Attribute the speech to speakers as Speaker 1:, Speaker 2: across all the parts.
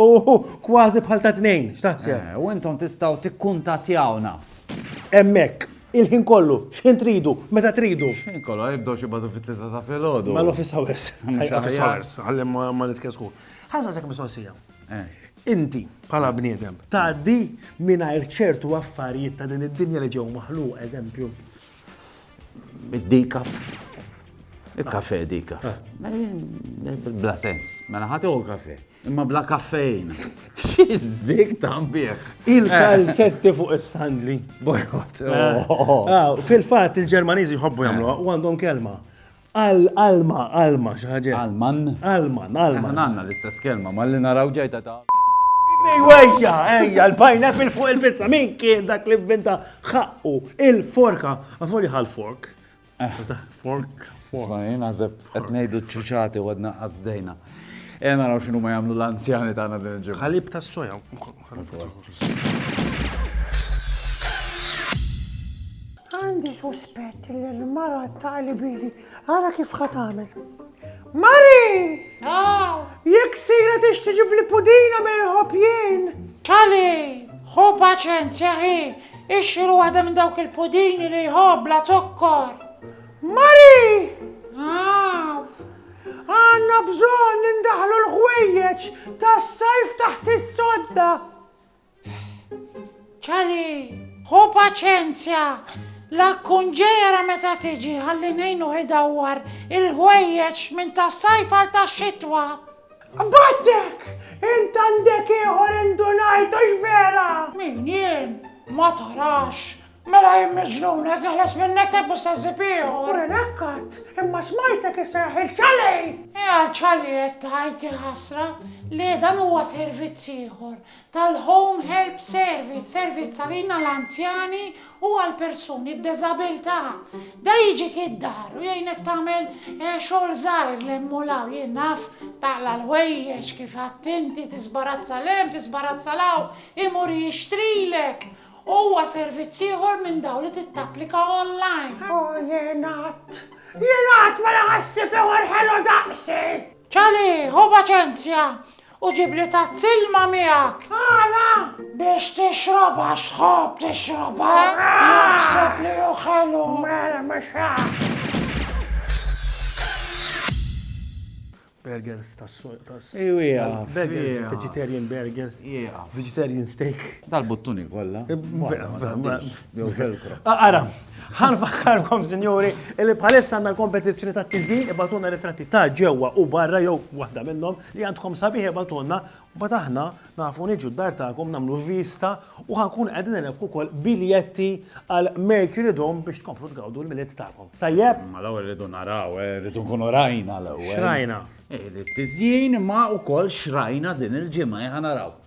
Speaker 1: Uhu, kważi bħal ta' tnejn, x'taħseb? Eh, u intom tistgħu
Speaker 2: tikkuntatjawna. Hemmhekk,
Speaker 1: il-ħin kollu, x'ħin tridu, meta tridu. X'ħin kollu, jibdew xi
Speaker 2: badu fit-tlieta ta' filgħodu. Ma l-office hours.
Speaker 1: Office hours, ħalli ma nitkesku. Ħaża sekk mistoqsija. Eh. Inti, bħala bniedem, tgħaddi mingħajr ċertu affarijiet ta' din id-dinja li ġew maħluq, eżempju. Id-dikaf.
Speaker 2: Il-kafe dikaf. Ah. Bla sens. Mela ħatu kafe. Imma bla kaffein. Xizzik tambieħ. Il-kalzetti
Speaker 1: fuq is-sandli. Bojot.
Speaker 2: Eh. Oh. Ah,
Speaker 1: fil-fat il-Ġermaniżi jħobbu jagħmlu u għandhom kelma. Al, alma, alma, xi ħaġa hekk. Alman? Alman,
Speaker 2: alman. Aħna
Speaker 1: għandna l-istess
Speaker 2: kelma, malli naraw ġejta ta' Ejwa, ejja,
Speaker 1: ejja, l-pineapple fuq il-pizza, min kien dak li vvinta ħaqqu il-forka, għafoli ħal fork. Eh. Fork, fork. Smajin,
Speaker 2: għazeb, qed ngħidu ċiċati u għadna qasbdejna. E naraw xinu ma jagħmlu l-anzjani tagħna din il-ġimgħa. Ħalib tas-soja.
Speaker 3: Għandi suspett li l-mara ta' libili, għara kif ħatamel. Mari! Ah! Jek sira tix tiġib li pudina me jħob jien. Tali,
Speaker 4: ħu paċenzja ħi, ixxilu għadem minn dawk il-pudini li jħob la zokkor. Mari!
Speaker 3: Ah! Għandna bżonn indaħħlu l-ħwejjeġ tas-sajf taħt is-sodda.
Speaker 4: Charlie, ħu paċenzja. La tkun ġejjera meta tiġi ħalli ngħinuh idawwar il-ħwejjeġ minn tas-sajf għal tax-xitwa. Battek!
Speaker 3: Int għandek ieħor indunajt, hux vera? Min, jien?
Speaker 4: Ma tarax! Mela jien miġnun, hekk naħlas minnek tebbu sa żipiħu. U renakkat,
Speaker 3: imma smajtek isejħ il-ċalej! E għal-ċalej
Speaker 4: qed tgħid ja ħasra, le dan huwa servizz ieħor tal-Home Help Service, servizz għalina l-anzjani u għall-persuni b'deżabilità. Da jiġik id-dar u jgħinek tagħmel eh, xogħol żgħir lemmu law jien naf taqla l-ħwejjeġ kif għattinti tisbarazza lem, tisbarazza law, imur jixtrilek Huwa servizz ieħor minn dawn li tittapplika online. O jien qatt, jien
Speaker 3: qatt ma laqa' ħsieb ieħor ħelu daqsi! Ċali,
Speaker 4: ħu paċenzja, u ġibli tazz ilma miegħek. Għala?
Speaker 3: Biex
Speaker 4: tixrob għax tħobb tixrob, ha? Naħseb li hu ħelu. Mela mhux
Speaker 3: hekk.
Speaker 1: Burgers tas tas
Speaker 2: Burgers,
Speaker 1: vegetarian burgers, vegetarian steak. Dal-buttuni kollha.
Speaker 2: Ara,
Speaker 1: ħan fakkarkom, sinjuri, li bħalissa għandna l-kompetizzjoni ta' tiżin ibatuna ritratti ta' ġewwa u barra jew waħda minnhom li għandkom sabiħ ibatuna Mbagħad aħna nafu niġu d-dar tagħkom nagħmlu vista u ħa nkunu qegħdin nilebku wkoll biljetti għal Mercury Dome biex tkomplu tgawdu l-Milied tagħkom. Tajjeb? Ma l-ewwel rridu naraw,
Speaker 2: eh, rridu nkunu rajna l-ewwel. Xrajna? Eh, li
Speaker 1: t-tiżjin
Speaker 2: ma wkoll xrajna din il-ġimgħa eh, ħa naraw.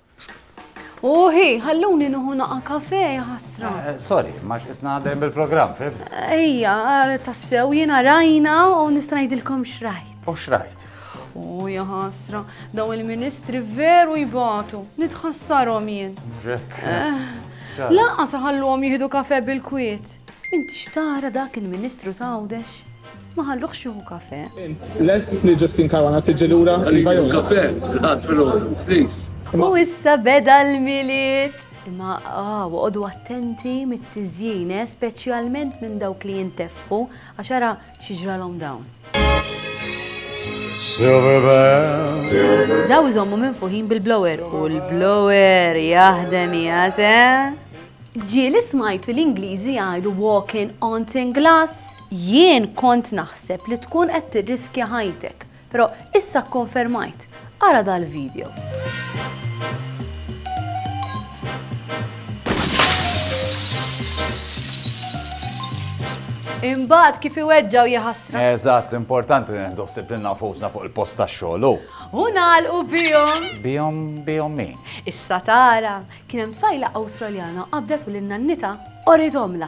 Speaker 5: Uħi, ħalluni nuħu naqa kafe, ħasra. Eh, eh, sorry, max
Speaker 2: isna għadem bil-program, fib? Ejja, eh,
Speaker 5: tassew jena rajna u nisnajdilkom xrajt. U xrajt?
Speaker 2: Oh, ja
Speaker 5: ħasra, daw il-ministri veru jbatu, nitħassarhom jien. Jack. Eh, Laqa saħalluhom jieħdu kafe bil-kwiet. Inti xtara dak il-ministru ta' għawdex? Ma ħalluħx jieħu kafe. Les li
Speaker 6: Justin Karwana tiġi lura. Għallu kafe,
Speaker 7: għad fil-ħodu, please. U issa
Speaker 5: beda l-miliet. Imma ah, għodu attenti mit-tizjine, eh, specialment minn dawk li jintefħu, għaxara Xi ġralhom dawn? Silver bell. Daw iżommu minn fuħin bil-blower u l-blower jaħdem jgħate. Eh? Ġieli smajtu l-Ingliżi jgħidu walking on tin glass, jien kont naħseb li tkun qed tirriskja ħajtek. Però issa kkonfermajt, ara dal-video. Imbagħad kif iweġġa' u jaħasra. Eżatt, importanti
Speaker 2: li nieħdu ħsieb lilna nfusna fuq il-post tax-xogħol u. U nagħlqu
Speaker 5: bihom. Bihom bihom min?
Speaker 2: Issa tara,
Speaker 5: kien hemm tfajla Awstraljana qabdet u lil nannitha qorithomlha.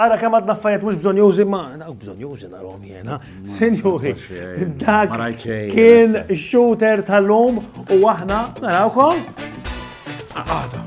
Speaker 2: Ara
Speaker 1: kemm għadna affarijiet mhux bżonjużi ma dawk bżonjużi narhom jiena. Sinjuri, dak kien
Speaker 2: shooter
Speaker 1: tal-lum u aħna narawkom. Għada.